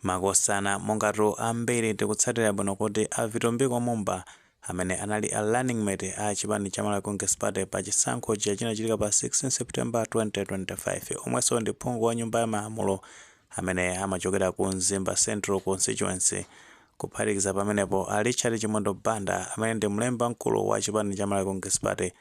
Makosana, mongatu ambiri tikutsatira bwino kuti a Vitumbiko Mumba amene anali a running mate a chipani cha Malawi Congress Party pa chisankho chija chinachitika pa 16 September 2025 omwenso ndi phungu wa nyumba ya malamulo amene amachokera ku Mzimba Central Constituency kuphatikiza pamenepo a Richard Chimwendo Banda amene ndi mlembi wamkulu wa chipani cha Malawi Congress Party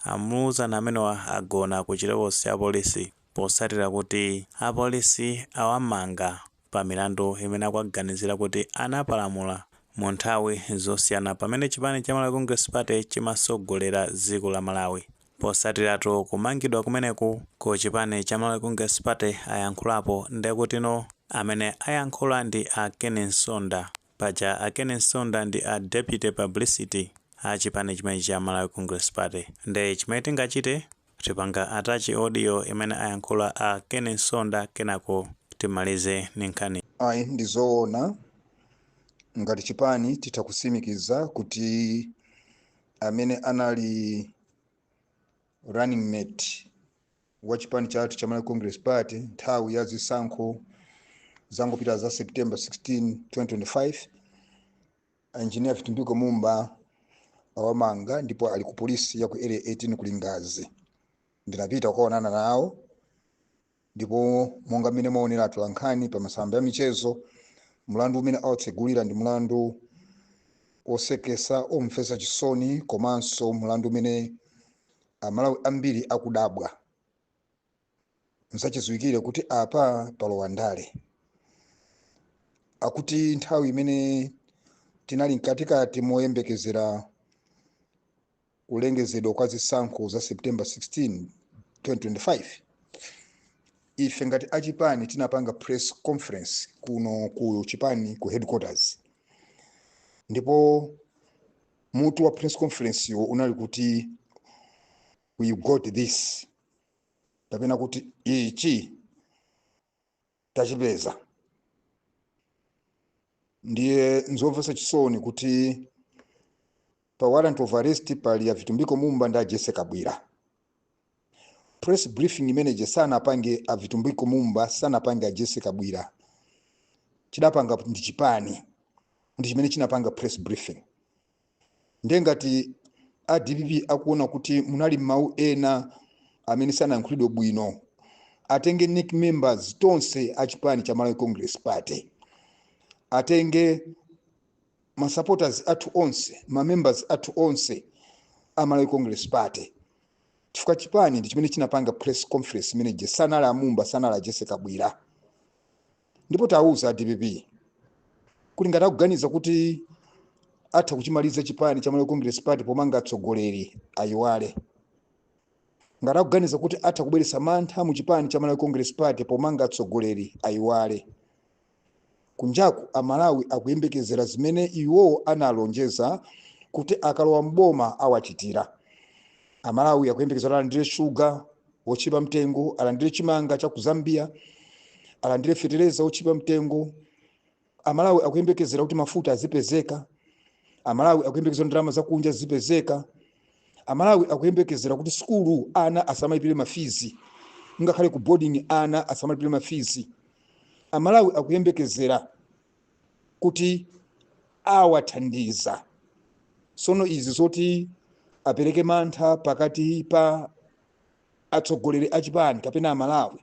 amzuwana amenewa agona ku chitokosi cha apolisi potsatira kuti apolisi awamanga pa milandu imene akuwaganizira kuti anapalamula mu nthawi zosiyana pamene chipani cha Malawi Congress Party chimatsogolera dziko la Malawi. Potsatiratu kumangidwa kumeneku ku chipani cha Malawi Congress Party ayankhulapo nde kutinotu amene ayankhula ndi a Ken Msonda Paja a Ken Msonda ndi a Deputy Publicity a chipani chimenechi cha Malawi Congress Party. Nde chimene tingachite, tipanga attach audio imene ayankhula a Ken Msonda kenako timalize ndi nkhaniyi. Ayi ndi zoona ngati chipani titha kusimikiza kuti amene anali running mate wa chipani chathu cha Malawi Congress Party nthawi ya zisankho zangopita za September 16 2025 engineer Vitumbiko Mumba awamanga ndipo ali ku polisi ya ku area 18 ku Lingadzi ndinapita kukaonana nawo Ndipo monga mmene mwaonera atolankhani pa masamba ya michezo, mlandu umene awatsegulira ndi mlandu woseketsa, omvetsa chisoni komanso mlandu umene Amalawi ambiri akudabwa. Nzachidziwikire kuti apa palowa ndale. Akuti nthawi imene tinali mkatikati moyembekezera kulengezedwa kwa zisankho za september 16 2025 ife ngati achipani tinapanga press conference kuno ku chipani ku headquarters ndipo mutu wa press conference yo unali kuti we got this kapena kuti ichi tachipeza ndiye nzomvetsa chisoni kuti pa warrant of arrest pali a vitumbiko mumba ndi a jessie kabwila press briefing imene ije sanapange a vitumbiko mumba sanapange a jessie kabwila chidapanga ndi chipani ndi chimene chinapanga press briefing ndiye ngati a dpp akuona kuti munali mawu ena amene sanayankhulidwe bwino atenge nec members tonse a chipani cha malawi congress party atenge masupporters athu onse mamembers athu onse a malawi congress party chifukwa chipani ndi chimene chinapanga press conference imene ije sanali amumba sanali a jessie kabwila ndipo tawuza a dpp kuti ngati akuganiza kuti atha kuchimaliza chipani cha malawi congress party pomanga atsogoleri ayiwale ngati akuganiza kuti atha kubweretsa mantha mu chipani cha malawi congress party pomanga atsogoleri ayiwale kunjaku amalawi akuyembekezera zimene iwowo analonjeza kuti akalowa mboma awachitira amalawi akuyembekezera alandire shuga otchipa mtengo alandire chimanga cha ku zambia alandire fetereza otchipa mtengo amalawi akuyembekezera kuti mafuta azipezeka amalawi akuyembekezera ndalama zakunja zizipezeka amalawi akuyembekezera kuti sukulu ana asamalipire mafizi ngakhale ku boarding ana asamalipire mafizi amalawi akuyembekezera kuti awathandiza sono izi zoti apereke mantha pakati pa atsogoleri a chipani kapena amalawi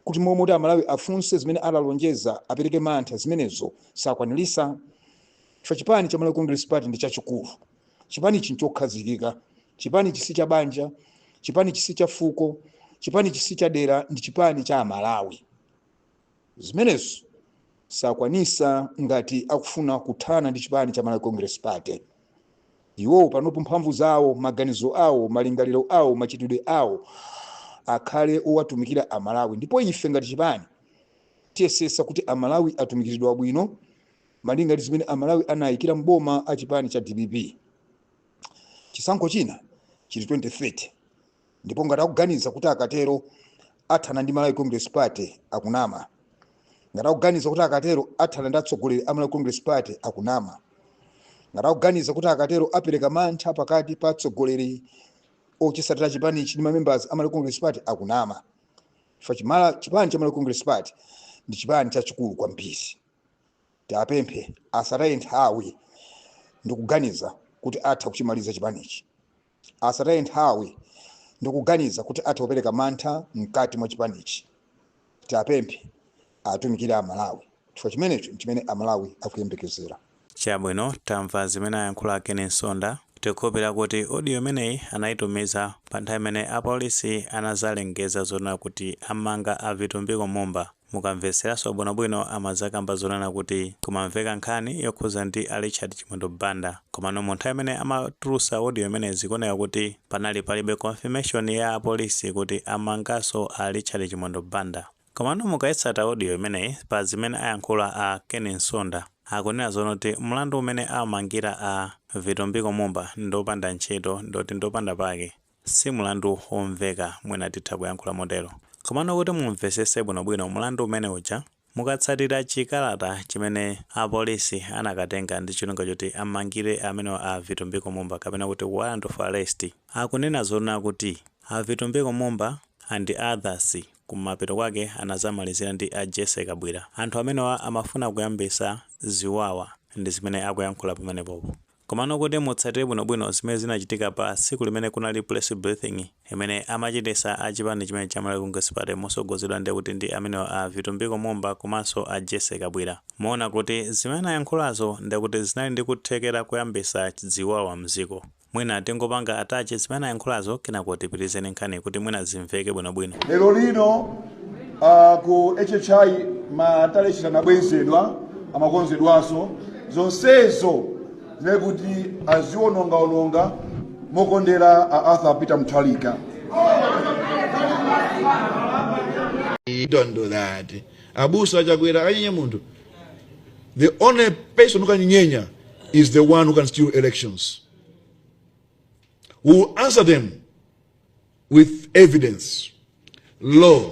kuti momwe kuti amalawi afunse zimene analonjeza apereke mantha zimenezo sakwanirisa chifukwa chipani cha malawi congress party ndi chachikulu chipani ichi nchokhazikika chipani ichi si cha banja chipani ichi si cha fuko chipani ichi si cha dera ndi chipani cha amalawi zimenezo sakwanisa ngati akufuna kuthana ndi chipani cha malawi congress party iwowo panopo mphamvu zawo maganizo awo malingaliro awo machitidwe awo akhale owatumikira amalawi ndipo ife ngati chipani tiyesesa kuti amalawi atumikiridwa bwino malinga ndi zimene amalawi anayikira mboma a chipani cha dpp chisankho china chili 2030 ndipo ngati akuganiza kuti akatero athana ndi malawi congress party akunama ngati akuganiza kuti akatero athana ndi atsogoleri a malawi congress party akunama ngati akuganiza kuti akatero apereka mantha pakati pa atsogoleri ochisatira chipanichi ndi mamembers a malawi congress party akunama chifukwa chimala chipani cha malawi congress party ndi chipani chachikulu kwambiri tiapemphe asataye nthawi ndikuganiza kuti atha kuchimaliza chipanichi asataye nthawi ndikuganiza kuti atha kupereka mantha mkati mwa chipanichi. Tiapemphe atumikire a Malawi chifukwa chimenecho nchimene a Malawi akuyembekezera. Chabwino tamva zimene ayankhula a Ken Nsonda. Tikukhulupirira kuti audio imeneyi anayitumiza pa nthawi imene apolisi anazalengeza zonena kuti amanga a Vitumbiko Mumba. Mukamveseraso bwino bwino amazakamba zonena kuti kumamveka nkhani yokhuza ndi a Richard Chimwendo Banda komano mu nthawi imene amatulusa audio imeneyi zikuoneka kuti panali palibe confirmation ya apolisi kuti amangaso a Richard Chimwendo Banda komano mukaitsata audio imeneyi pa zimene ayankhula a Ken Nsonda akunena zonoti mlandu umene awamangira a Vitumbiko Mumba ndiopanda ntchito ndi oti ndiopanda pake Si mlandu womveka, mwina titha kuyankhula motero. Komano kuti muumvetsetse bwinobwino mlandu umene uja, mukatsatira chikalata chimene apolisi anakatenga ndi cholinga choti amangire amenewa a Vitumbiko Mumba kapena kuti warrant of arrest, akunena zoona kuti a Vitumbiko Mumba and others kumapeto kwake anadzamalizira ndi a Jessie Kabwira. Anthu amenewa amafuna kuyambitsa ziwawa. Ndi zimene akuyankhula pamenepopo. Komano kuti mutsatire bwinobwino zimene zinachitika pa tsiku limene kunali press briefing imene amachititsa a chipani chimenechi cha Malawi Congress Party motsogozedwa ndekuti ndi amenewa a Vitumbiko Mumba komanso a Jessie Kabwira, muona kuti zimene anayankhulazo ndekuti zinali ndi kuthekera koyambitsa ziwawa mdziko. Mwina tingopanga attach zimene anayankhulazo kenako tipitirizeni nkhaniyi kuti mwina zimveke bwinobwino. Lero lino Uh, ku HHI ma tally sheet anabwezedwa amakonzedwanso zonsezo zinaye kuti azionongaononga mokondera a arthur peter muthalika He don't do that. Abusa achakwera anyenya munthu. The only person who can nyenya is the one who can steal elections. Who will answer them with evidence, law,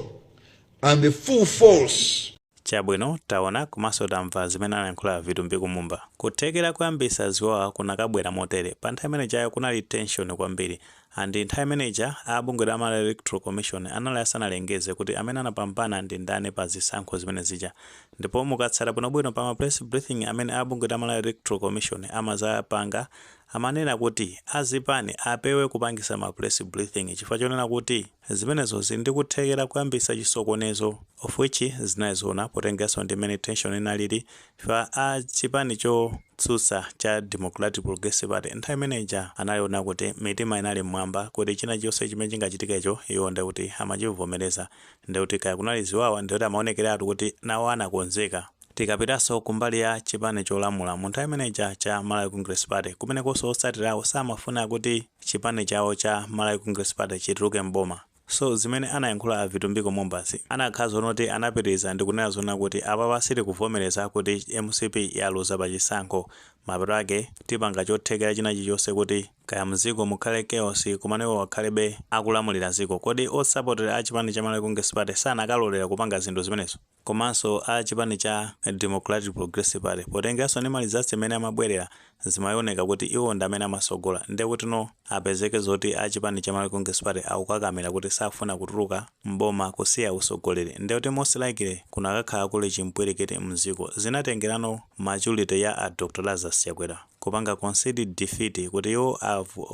and the full force Chabwino, taona komanso tamva zimene anayankhula a Vitumbiko Mumba. Kuthekera kuyambisa ziwawa kunakabwera motere. Pa nthawi imene ijayo kunali tension kwambiri and nthawi imene ija a bungwe la Malawi Electoral Commission anali asanalengeze kuti amene anapambana ndi ndani pa zisankho zimene zija. Ndipo mukatsata bwinobwino pa ma press briefing amene a bungwe la Malawi Electoral Commission amadzapanga amanena kuti a zipani apewe kupangisa ma press briefing chifukwa chonena kuti zimenezo zili ndi kuthekera kuyambisa chisokonezo of which zinali zoona potengeranso ndi mmene tension inalili chifukwa a chipani chotsutsa cha Democratic Progressive Party nthawi imene ija anali ona kuti mitima inali mmwamba kuti china chilichonse chimene chingachitikecho iwo ndiye kuti amachivomereza ndiye kuti kaya kunali ziwawa ndiye kuti amaonekeratu kuti nawo anakonzeka Tikapitanso kumbali ya chipani cholamula, mu nthawi imene ija cha Malawi Congress Party, kumenekonso otsatira awo samafuna kuti chipani chawo cha Malawi Congress Party chituluke m'boma. So zimene anayankhula a Vitumbiko Mumbazi, anakhala zoona kuti anapitiriza ndi kunena zoona kuti apapa sitikuvomereza kuti mcp yaluza pa chisankho, mapeto ake tipanga chothekera china chilichonse kuti kaya m'dziko mukhale chaos komano iwowo akhalebe akulamulira dziko. Kodi masapota a chipani cha Malawi Congress Party sanakalolera kupanga zinthu zimenezo? komanso a chipani cha Democratic Progressive Party potengeranso ndi ma results mmene amabwelera zimaioneka kuti iwo ndi amene amatsogola nde kuti tsono apezeke zoti a chipani cha Malawi Congress Party akukakamira kuti sakufuna kutuluka m'boma kusiya usogoleri nde kuti most likely kunakakhala kuli chimpwilikiti mziko zinatengerano maturity ya a Dr Lazarus Chakwera kupanga concede defeat kuti iwo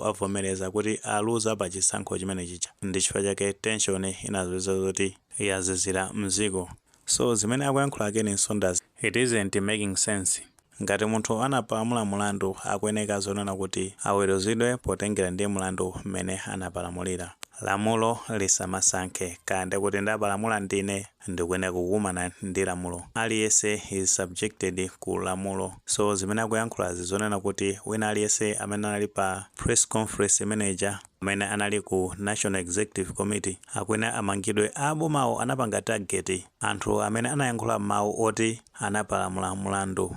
avomereza kuti aluza pa chisankho chimene chija ndi chifukwa chake tension inadzapezeka zoti yazizira mziko so zimene akuyankhula Ken Nsonda it isn't making sense ngati munthu anapalamula mulandu akuyeneka zonena kuti aweruzidwe potengera ndi mlandu mmene anapalamulira lamulo lisamasankhe kaya ndikuti ndapalamula ndine ndikuyeneka kukumana ndi lamulo aliyese is subjected ku lamulo so zimene akuyankhulazi zonena kuti wina aliyese amene anali pa press conference imene ija amene anali ku National Executive Committee akuyenera amangidwe abomawo anapanga target anthu amene anayankhula mau oti anapalamula mulandu.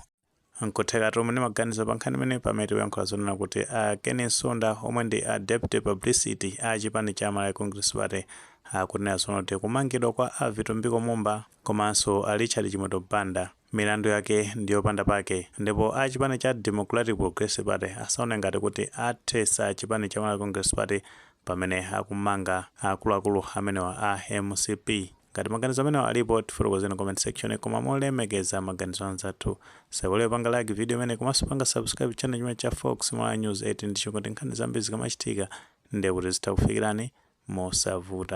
Nkutheka tu muli ndi maganizo pa nkhani imeneyi pamene tikuyankhula zonena kuti a Ken Nsonda omwe ndi a Deputy Publicity a chipani cha Malawi Congress Party akunena zonena kuti kumangidwa kwa a Vitumbiko Mumba komanso a Richard Chimwendo Banda Milandu yake ndi yopanda pake ndipo a chipani cha Democratic Progressive Party asaone ngati kuti athetsa chipani cha Malawi Congress Party pamene akumanga akuluakulu amenewa a mcp. Ngati maganizo amenewa alipo tifotokozeni comment section koma molemekeza maganizo a anzathu. Musaiwale kupanga like video imeneyi komanso kupanga subscribe channel chimenechi cha Fox Malawi News 8 ndi cholinga choti nkhani zambiri zikamachitika ndiye kuti zizikufikirani mosavuta.